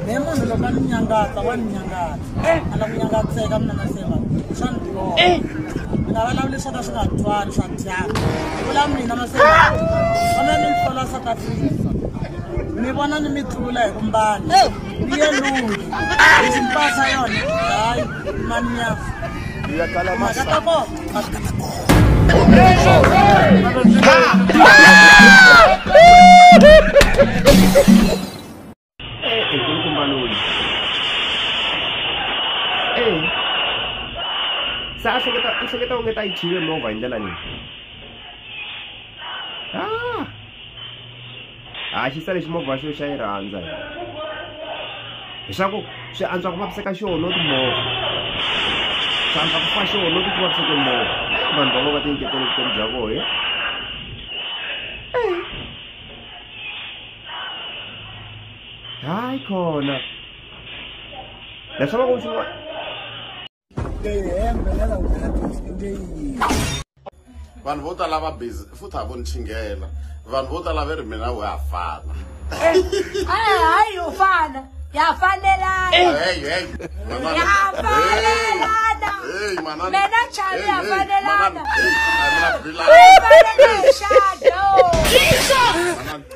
ne munhu loko a ni nyangatsa wa ni nyangatsa eh. a la ku nyangatseka mina maseva swa ni tlova eh. ni nga valavuli swo ka swi nga twani swa dyaka vula mina maseva ona ni ntlola south africa mi vona ni mi tlula hi ku mbala eh. ni ye lungi hi ximpasa yona hayi mani yafa mhaka ta kona se a hleketa u hleketa onge ta yi chive movha hi ndlela leyi Ha xisa lexi movha wa xo xa yi rhandza hi leswaku swi antswa ku vaviseka xona no timovha swi antswa ku fa xona no ti vaviseke movha vanhu va va va tinyiketela vutomi bya vohe hayi khona leswi va ku swi vanhu vo tala va busy futhi a vo ni chingela vanhu vo tala ve ri mina we ha fana hayi u fana ya fanelanayafanelanaena chali ya fanelana